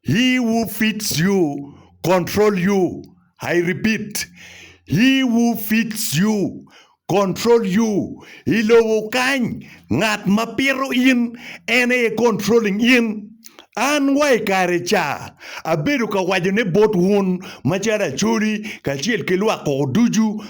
He who feeds you control you, I repeat, He who feeds you control you. I lobo kany, ngat ma pito in en aye controlling in. An wa i kare ca, abedo ka wacone bot wun macalo Acholi kacel ki lwak koko ducu,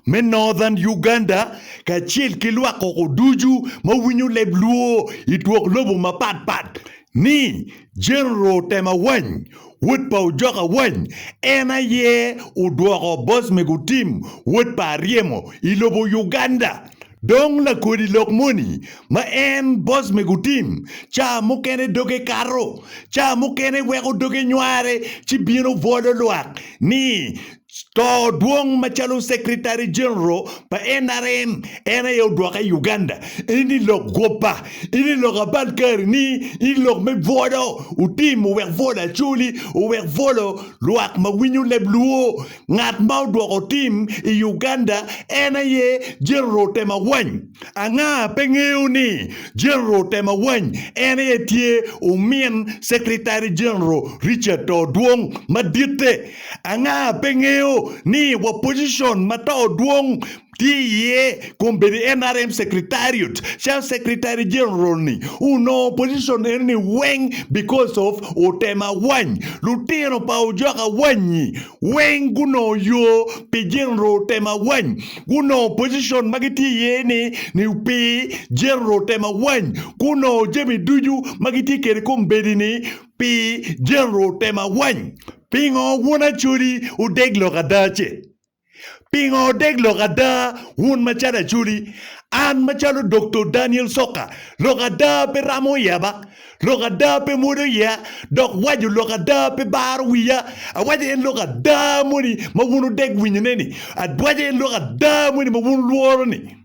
me Northern Uganda kacel ki lwak koko ducu ma winyo leb Luo i twok lobo mapat pat ni General Otem Awany, wod pa Ojok Awany, en aye odwoko Bosme Gutim, wod pa Aryemo, i lobo Uganda. Dong lakodi lok moni ma en Bosme Gutim, ca mukene doge kato, ca mukene weko doge nyware ci bino bwolo lwak ni To dwong macalo Secretary General pa NRM en aye odwoka i Uganda in i lok gwoba, in i lok abal kari ni, in lok me bwolo otim owek bwolo Acholi, owek bwolo lwak ma winyo leb luo. Ngat ma odwoko otim i Uganda en aye General Temawany. Anga pe ngeyo ni General Temawany en aye tye omin Secretary General Richard To dwong maditte Anga pe ngeyo ni wa position ma too dwong tye iye kun bedo NRM secretariat calo secretary general ni onongo position eno ni weng because of otem awany lutino pa ojok awany ni weng gunongo yo pi general otem awany gunongo position ma gitye iye ni ni pi general otem awany gunongo jami ducu ma gitye kede kombedi ni pi general otem awany Pingo wun Acholi wudeg lok ada-ce? Pingo wudeg lok ada wun macalo Acholi? An macalo Dokto Daniel Soka, lok ada pe ramo yeba, lok ada pe mwodo yeya, dok waco lok ada pe baro wiya. Awaco en lok ada moni ma wun wudeg winyone-ni, awaco en lok ada moni ma wun wulworo-ni.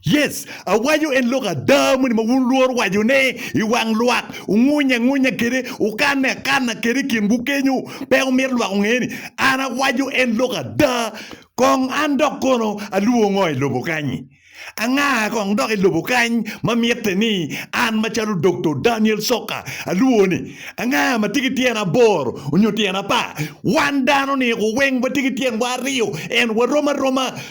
Yes, awaco en lok ada moni ma wun lworo wacone i wang lwak, wungunyo angunya kwede, wukanne akanna kwede i kinwu kenyo, pe wumito lwak onge ni an awaco en lok ada. Kong an dok kono alwongo ngo i lobo kany-nyi? Anga kong dok i lobo kany ma mitte ni an macalo Doktor Daniel Soka alwongo ni anga ma tye ki tyen aboro nyo tyen apar? Wan dano-ni weng watye ki tyenwa aryo, ento warom aroma.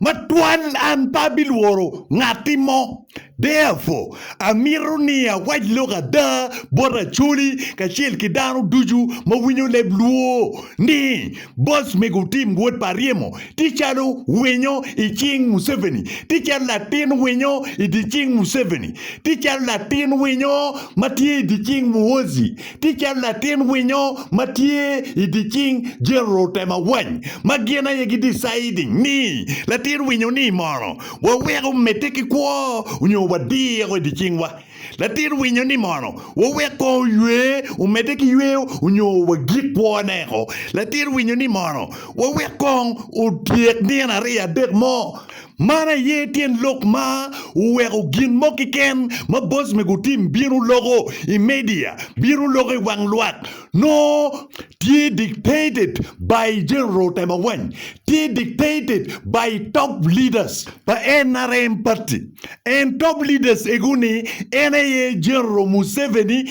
Matwal an pe abilworo ngatti mo. Therefore, amito ni awac lok ada bot Acholi kacel ki dano ducu ma winyo leb Luo ni boss me gutim wot pa ryemo tye calo winyo i cing Museveni, tye calo latin winyo i dye cing Museveni, tye calo latin winyo ma tye i dye cing Muhoozi. tye calo latin winyo ma tye i dye cing General Temawany ma gin aye gi deciding ni latin winyo ni mono waweko medde ki kwo nyo wadiko i dye cing wa latin winyo ni mono wawek kong oywe omedde ki yweyo nyo wagik kwo ne ko latin winyo ni mono wawek kong otyek nino aryo adek mo Man aye tyen lok ma oweko gin mo keken ma boc me gutim bino loko i media, bino loko i wang lwak, nongo tye dictated by General Temawany, tye dictated by top leaders pa nrm party and top leaders ego ni en aye General Museveni,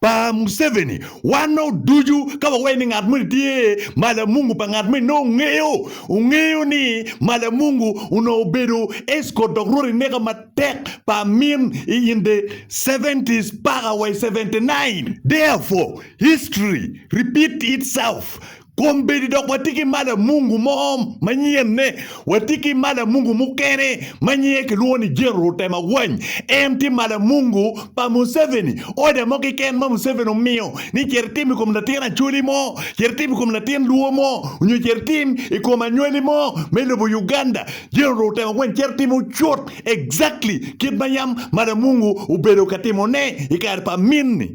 pa Museveni wanno ducu ka wawaye ni ngat moni tye malamungu pa ngat moni nongo ongeyo ongeyo ni malamungu onongo obedo escort dok rwot ineka matek pa amin i in the 70s paka wa i 79 therefore history repeat itself Kom bedi dok watye ki mala mungu mo manyenne. Watye ki mala mungu mukene ma nyinge kilwongo ni General Temagwany. En tye mala mungu pa Museveni. Order mo keken ma Museveni omiyo ni cit itim i kom latin Acholi mo, cit itim i kom latin Luo mo, onyo cit itim i kom anywali mo me lobo Uganda, General Temagwany cito timo cut exactly kit ma yam mala mungu obedo ka timone i kare pa amin-ni.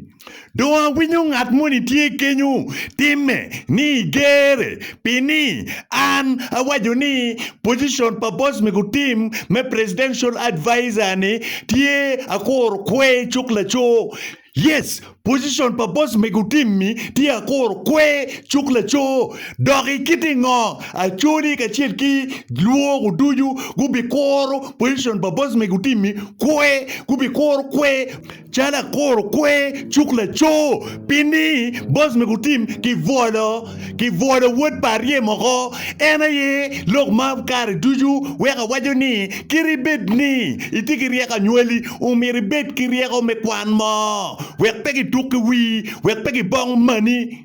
Dong awinyo ngat moni tye kenyo timme ni igere pi ni an awaco ni position pa boss me gutim me presidential advisor ni tye akuro kwe cuk laco. Yes position pa boss me gutim ni tye akuro kwe cuk laco dok ikiti ngo acholi kacel ki lwogo ducu gubikuro position pa boss me gutim ni kwe gubikuro kwe. Calo akuro kwer cuk laco, pi ni boss me gutim ki bwolo, ki bwolo wod pa arye moko, en aye lok ma kare ducu weko awaco ni kit ibed ni itye ki ryeko anywali, omyero ibed ki ryeko me kwan mo, wek pe gituk ki wii, wek pe gibong mani.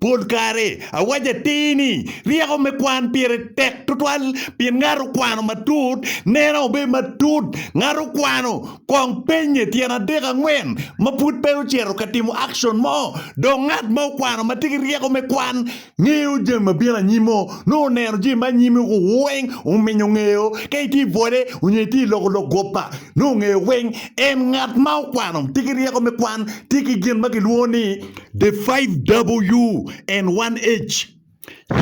Pol kare, awaco atir ni, ryeko me kwan pire tek tutwal pien ngat okwano matut, neno obedo matut. Ngat okwano, kong pennye tyen adek angwen ma pud pe ocito ka timo akcon mo. Dong ngat ma okwano ma tye ki ryeko me kwan ngeyo jami ma bino anyim-mo, nongo oneno jami ma anyim-mi weng ominyo ngeyo. Ka itye i bwole onyo itye i loko lok guppa, nongo ongeyo weng. En ngat ma okwano tye ki ryeko me kwan tye ki gin ma kilwongo ni The 5W1H,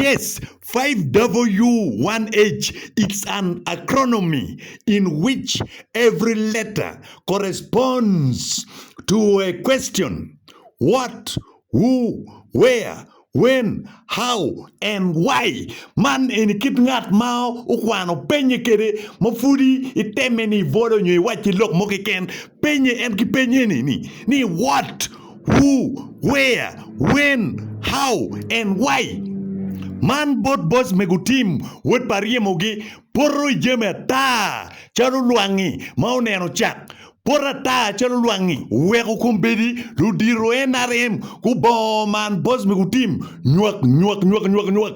Yes, 5W1H is an acronomy in which every letter corresponds to a question, What, Who, Where, When, How, and Why. Man eni kit ngat ma okwano penye kede ma pudi iteme ni ibolo nyo iwacci lok mo keken, penye en ki peny eni ni, What, Who, Where, When, How, and Why. Man bot boc me gutim wod pa ryemogi poto i jami ata calo lwangi ma oneno cak. Pot ata calo lwangi oweko kombeddi ludito NRM gubongo man boc me gutim nywak nywak nywak nywak nywak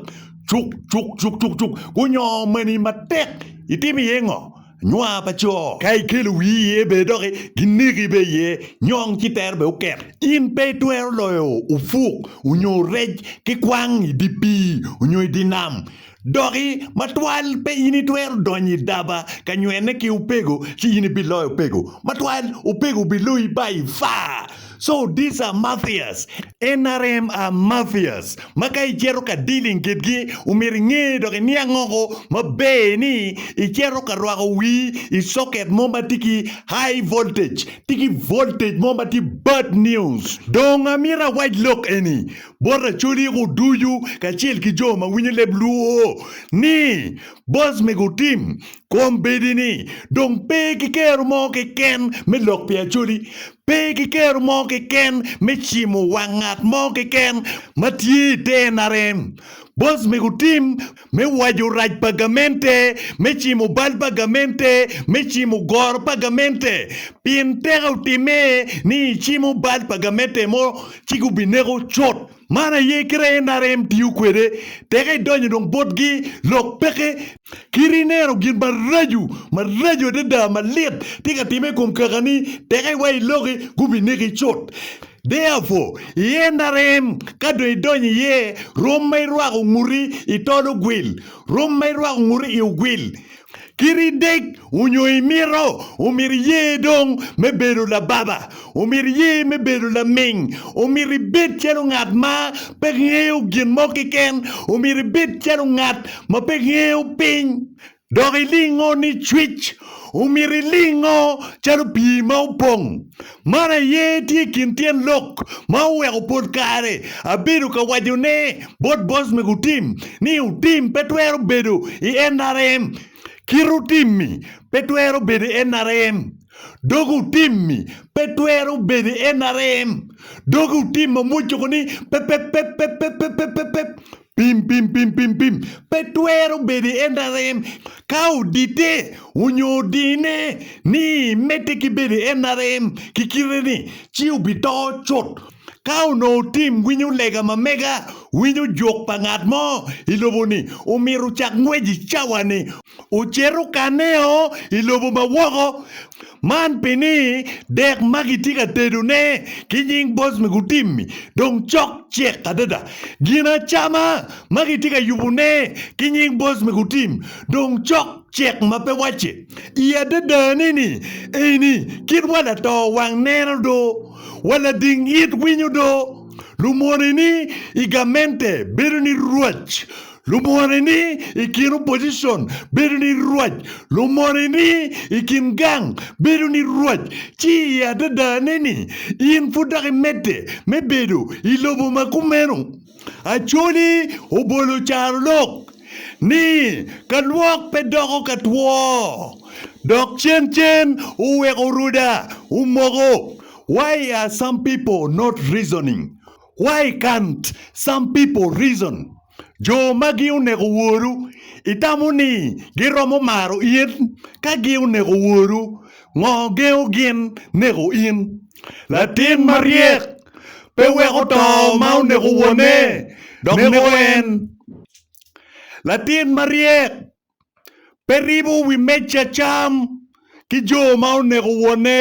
cuk cuk cuk cuk cuk gunyongo mani matek. Itimo iye ngo? nwa pa co. Ka ikelo wii iye bene dok gineki bene iye, nyong ci tero bene oket. In pe itwero loyo opuk onyo rec ki kwang i dye pii onyo i dye nam. Doki, matwal pe in itwero donyo i daba ka nywene ki opego ci in ibiloyo opego. Matwal, opego biloyi bayi faa. So these are mafias, nrm are mafias ma ka icito ka dealing kitgi omyero inge dok iniang oko maber ni icito ka rwako wii i socket mo ma tye ki high voltage, tye ki voltage mo ma tye bad news. Dong amyero awac lok eni bot Acholi ko ducu kacel ki jo ma winyo leb luo ni boss mego team Kombeddi ni dong pe ki kero mo keken me lok pi Acholi, pe ki kero mo keken me cimo wang ngat mo keken ma tye i te NRM. Bos mego tim me waco rac pa gamente me cimo bal pa gamente me cimo goro pa gamente pien teke otimme ni icimo bal pa gamente mo ci gubineko cut. Man aye kite a NRM tiyo kwede, teke idonyo dong botgi, lok peke, kit ineno gin maraco, maraco adada, malit tye ka timme i kom kakani, teke iwaco iloki, gubineki cut. Therefore, i NRM, ka dong idonyo iye, rom ma irwako nguti, itolo gwil, rom ma irwako nguti, iogwil. Kit i dek onyo i mito, omito i ye dong me bedo lababa, omito i ye me bedo laming, omito i bed calo ngat ma pe ngeyo gin mo keken, omito i bed calo ngat ma pe ngeyo piny, dok i lingo ni cwic, omito i lingo calo pii ma opong. Man aye tye kin tyen lok ma oweko pol kare abedo ka waco ne bot boss me gutim ni otim pe twero bedo i nrm, kit otimmi pe twero bedo i nrm, dog otimmi pe twero bedo i nrm, dog otim ma mwocco koni pepepepepepepepep. Pim, pim, pim, pim, pim pe twero bedo en arem ka odite onyo odine ni mete ki bedo en arem ki kite ni, ci obito cut. Ka onongo tim winyo lega ma mega, winyo juk pa ngat mo i lobo ni omito cak ngwec i cawa ni, ocito kaneo i lobo ma woko. Man pi ni dek ma kitye ka tedone ki nying boc me gutim-mi dong cok cek adada. Ginacama ma kitye ka yubone ki nying boc me gutim dong cok cek ma pe wacce. I adadane-ni, eni kit wa lato wang neno do, wa lading it winyo do, lumoneni i gamente bedo ni rwac, Lumone ni i kin opposition bedo ni rwac, lumone ni i kin gang bedo ni rwac, ci i adadane ni in pud dok imedde me bedo i lobo ma kumeno. Acholi obolo carolok ni ka lwok pe doko ka two dok cen cen oweko ruda omoko why are some people not reasoning Why can't some people reason? Jo magi oneko woru. Itamo ni giromo maro in? Ka gi oneko woru, ngo gengo gin neko in? Latin maryek pe weko to ma oneko wone dok neko en. Latin maryek pe ribo wi meja cam ki jo ma oneko wonne.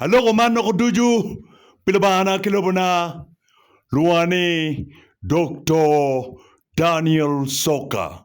Aloko man loko ducu pi Lubangana ki lobona. Lwonga ni Doktor Daniel Soka.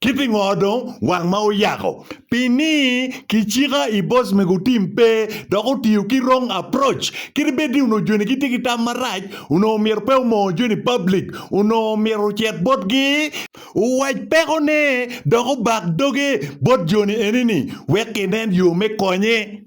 Ki pingo dong wang ma oyako? Pi ni ki cika i boss mego otim pe dok otiyo ki wrong approach. Kit bed ni onongo joni gitye ki tam marac, onongo omyero pe omongo joni public, onongo omyero ocit bot gi, owac peko ne dok obak doge bot joni eni ni wek ginen yo me konye.